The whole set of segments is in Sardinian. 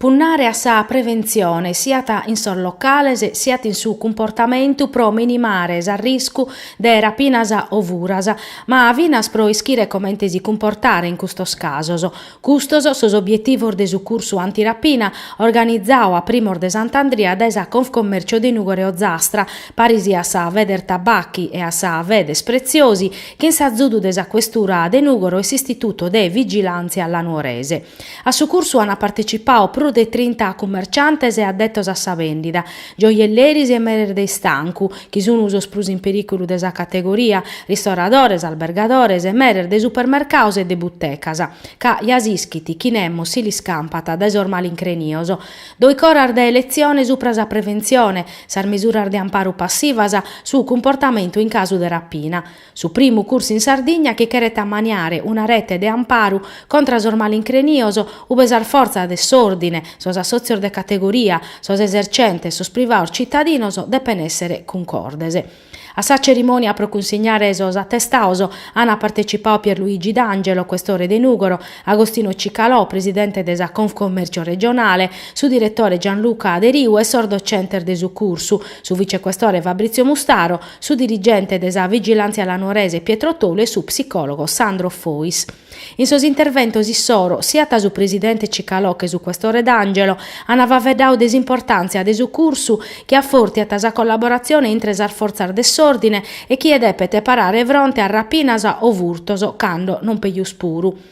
Punnare a sa preventzione siat in sos locales siat in su cumportamentu pro minimare s'arriscu de rapinas o furas, ma finas pro ischire comente si cumportare in custos casos. Custos sos obietivos de su cursu antirapina organizadu a primos de Sant'Andria dae sa Confcommercio de Nùgoro e Ozastra, paris a sa Federtabacchi e a sa Federpreziosi, chin s'azudu de sa Questura de Nùgoro e s'Istituto de Vigilàntzia La Nuorese. A su cursu ant partecipau prus de trinta cummerciantes e addetos a sa vendida, gioielleris e meres de istancu, chi sunu sos prus in periculu de sa categoria, ristoradores, albergadores e meres de supermercaos e de buttecas. Ca ja s'ischit, chi nemos si l'iscampat dae sos malincrinios. Doichi oras de letzione supra sa preventzione, sas mesuras de amparu passivas, su cumportamentu in casu de rapina. Su primu cursu in Sardigna chi cheret ammaniare una rete de amparu contra sos malincrinios ube sas fortzas de s'òrdine, sos assòtzios de categoria, sos esercentes, sos privados citadinos depen èssere cuncordes. A sa cerimònia pro cunsignare sos atestados ant partecipadu Pier Luigi D'Angelo, questore de Nùgoro, Agostino Cicalò, presidente de sa Confcommercio regionale, su diretore Gianluca Deriu e sos docentes de su cursu, su vicequestore Fabrizio Mustaro, su dirigente de sa Vigilàntzia La Nuorese Pietro Tolu e su psicòlogo Sandro Fois. In sos interventos issoro, siat su presidente Cicalò che su questore D'Angelo ant faeddadu de s'importàntzia de su cursu chi afortiat sa collaboratzione intre sas fortzas de s'òrdine e chie depet parare fronte a rapinas o furtos cando non pejus puru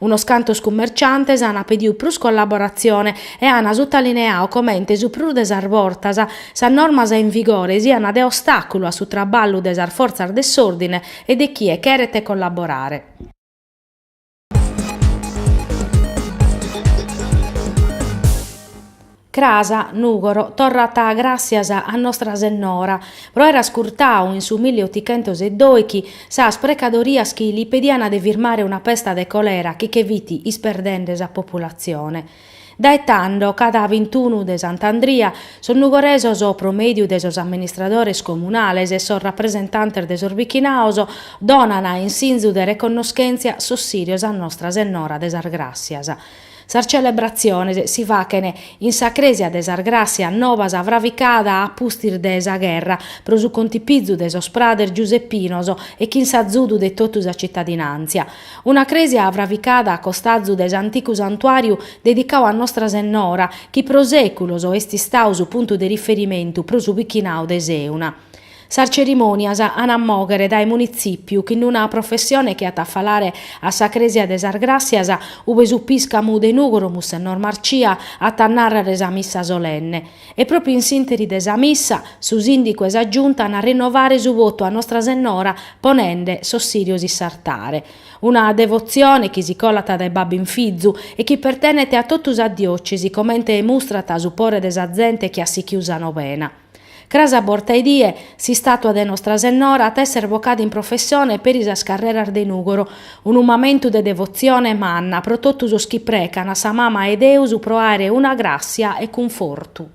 Unos cantos cummerciantes ana pediu prus collaboratzione e ana suttaliniau comente su prus de sas bortas sas normas in vigore siana de ostàculu a su traballu de sas fortzas de s'òrdine e de chie cheret collaborare. Cras, Nùgoro, torrat gràssias a Nostra Sennora pro aer ascurtadu in su milli otichentos e doighi sas precadorias chi li pedian de firmare una pesta de colera chi che fit isperdende sa populatzione. Dae tando, cada bintunu de Sant'Andria, sos nugoresos pro mèdiu de sos amministradores comunales e sos rapresentantes de sos bichinaos donan in sinzu de reconnoschèntzia sos sìrios a Nostra Sennora de sas Gràssias. Sas celebratziones si faghen in sa crèsia de sas Gràssias Nobas fravicada a pustis de sa gherra, pro su contipizu de sos prades giusepinos e chin s'azudu de totu sa citadinàntzia. Una crèsia fravicada a costazu de s'anticu santuàriu dedicau a Nostra Sennora, chi pro sèculos est istau su puntu de riferimentu pro su bichinau de Sèuna. Sas cerimònias an a mòghere dae munitzìpiu chin una professione chi at a falare a sa crèsia de sas Gràssias, ube su pìscamu de Nùgoro Mussennor Marcia at a nàrrere sa missa solenne. E pròpriu in s'ìnteri de sa missa, su sìndicu e sa Giunta an a rinnovare su votu a Nostra Sennora ponende sos sirios in s'artare. Una devotzione chi si colat dae babbu in fizu e chi pertenet a totu sa diòcesi comente mustrat su pore de sa zente chi at sichiu sa novena. Cras a borta 'e die, s'istàtua de Nostra Sennora at èssere vocada in professione peri sas carreras de Nùgoro, unu mamentu de devotzione manna pro totu sos chi precan a sa Mama 'e Deus pro àere una gràssia e cunfortu.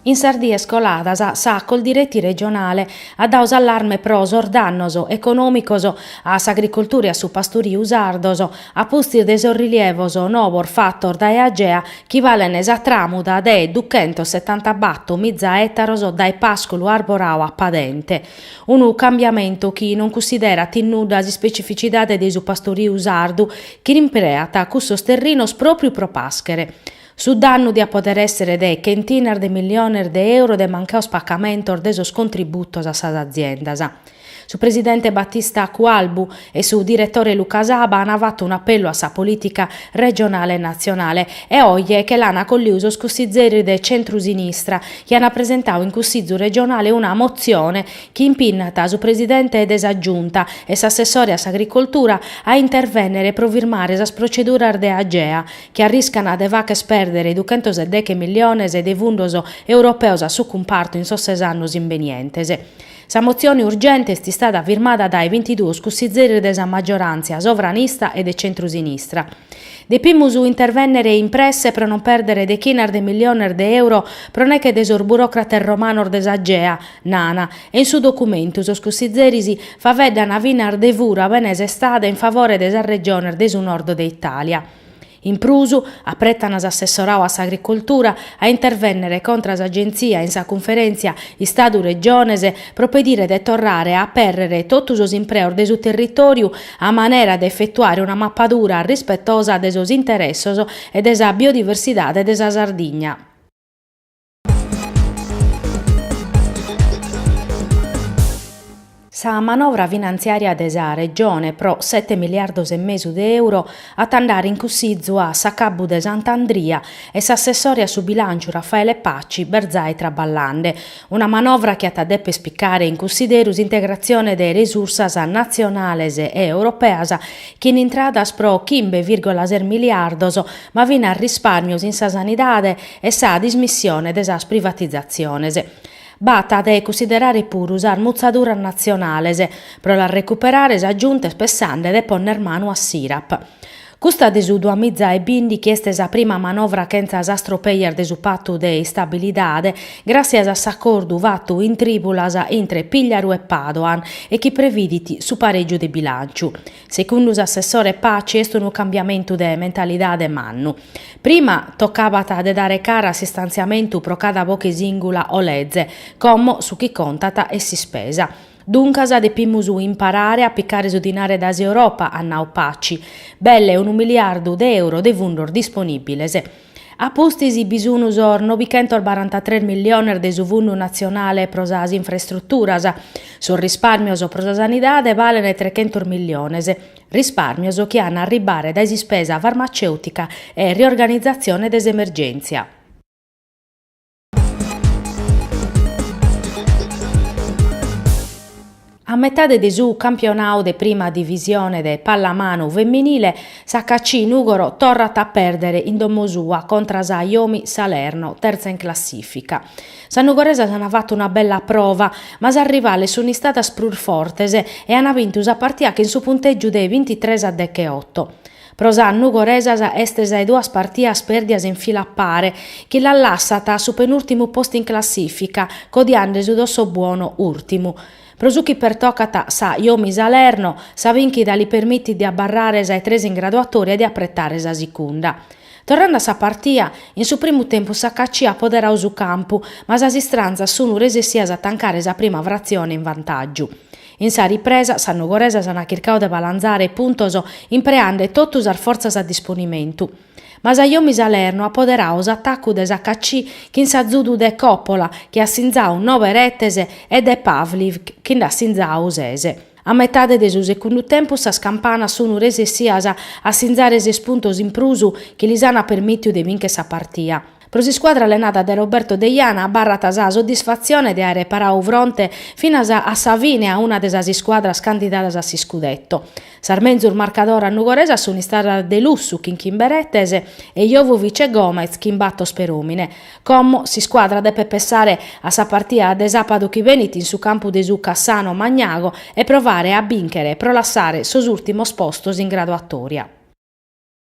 In sas dies coladas sa Coldiretti regionale at dau s'allarme pro sos dannos econòmicos a s'agricoltura e a su pasturiu sardos a pustis de sos rilievos novos fatos dae Agea chi balen sa tràmuda de duchentos setanta bato miza ètaros dae pàsculu arborau a padente. Unu cambiamentu chi non cussiderat in nudda s'ispecificidade de su pasturiu sardu chi l'impreat cussos terrinos pròpriu pro pàschere. Su dannu diat pòdere èssere de chentinas de milliones de euro de mancaos pacamentos de sos contributos a sas aziendas. Su presidente Battista Cualbu e su diretore Luca Saba ant fatu un'apellu a sa polìtica regionale e natzionale e oje che l'ant acolliu sos cussizeris de centrusinistra chi ant presentau in Cussizu regionale una motzione chi impinnat su presidente de sa Giunta e s'assessore a s'agricoltura a intervènnere pro firmare sas proceduras de Agea chi arriscana de fàcher pèrdere duchentos e deche milliones de fundos europeos a su cumpartu in sos ses annos imbenientes. Sa motzione urgente est istada firmada dae bintiduos cussizeris de sa maggiorantzia sovranista e de centrusinistra. Depimus intervènnere in presse pro non pèrdere dechinas de milliones de euro pro nèche de sos buròcrates romanos de s'Agea, nana, e in su documentu sos cussizeris faveddana finas de fura bene sestada in favore de sas regiones de su nord de Itàlia. In prus, apretan s'assessorau a s'Agricoltura a intervènnere contra s'Agentzia in sa cunferèntzia Istadu-Regiones pro pedire de torrare a apèrrere totu sos impreos de su territòriu a manera de efetuare una mapadura rispetosa de sos interessos e de sa biodiversidade de sa Sardigna. Sa manovra finantziària de sa Regione pro sete miliardos e mesu de euro at a ndare in cussizu a s'acabbu de Sant'Andria e s'assessore a su bilànciu Raffaele Paci b'est zai traballande. Una manovra chi at a dèpere picare in cussideru s'integratzione de resursas natzionales e europeas chin intradas pro chimbe virgola ses miliardos ma finas rispàrmios in sa sanidade e sa dismissione de sas privatizatziones. B'at de cussiderare puru sas mutzaduras natzionales pro las recuperare sa giunta est pessande de ponner manu a s'IRAP. Custa de su duamiza e bìndichi est sa prima manovra chentza sas tropejas de su patu de istabilidade, gràtzias a s'acordu fatu in trìbulas intre Pigliaru e Padoan e chi previdit su parègiu de bilànciu, Secundu s'assessore Paci est unu cambiamentu de mentalidade mannu. Prima tocabat de dare cara a s'istantziamentu pro cada boche sìngula o leze, como su chi contat est s'ispesa. Duncas depimus imparare a picare su dinare dae s'Europa, at nau Paci. Belle unu miliardu de euro de fundos disponìbiles. A pustis bi sun sos nobichentos barantatres milliones de su Fundu natzionale pro sas infrastruturas. Sos rispàrmios pro sa sanidade balent trechentos milliones, rispàrmios chi an a arribare dae s'ispesa farmacèutica e riorganizatzione de s'emergèntzia. A metade de su campionau de Prima Divisione de pallamanu feminile, s'HAC Nùgoro torrat a pèrdere in domo sua contra sa Jomi Salerno, terza in classìfica. Sas nugoresas ant fatu una bella prova, ma sas rivales sunt istadas prus fortes e ant bintu sa partia chin su puntègiu de bintitres a decheoto. Pro sas nugoresas est sa 'e duas partias pèrdias in fila a pare, chi las lassat a su penùrtimu postu in classìfica, codiande su Dossobuono ùrtimu. Pro su chi pertocat sa Jomi Salerno, sa bìnchida li permitit de abarrare sa 'e tres in graduatoria e de apretare sa sicunda. Torrande a sa partia, in su primu tempus s'HAC at poderau su campu, ma sas istranzas sunu resessias a tancare sa prima fratzione in vantàgiu. In sa ripresa, sas nugoresas ant chircau de balanzare puntos impreande totu sas fortzas a disponimentu. Ma sa Jomi Salerno at poderau s'atacu de s'HAC chin s'azudu de Coppola chi at sinzau nobe retes e de Pavliv chi nd'at sinzau ses. A metade de su secundu tempus sas campanas sun resessias a sinzare ses puntos in prus chi lis ant permìtiu de bìnchere sa partia. Pro s'iscuadra allenada dae Roberto Deiana abarrat sa soddisfatzione de àere paradu fronte finas a sa fine a una de sas iscuadras candidadas a s'iscudetto. Sas menzus marcadoras nugoresas sunt istadas De Lussu chin chimbe retes e Jovovic e Gomez chin bator peròmine. Como s'iscuadra depet pensare a sa partida de sàbadu chi benit in su campu de su Cassano Magnago e provare a bìnchere pro lassare sos ùrtimos postos in graduatòria.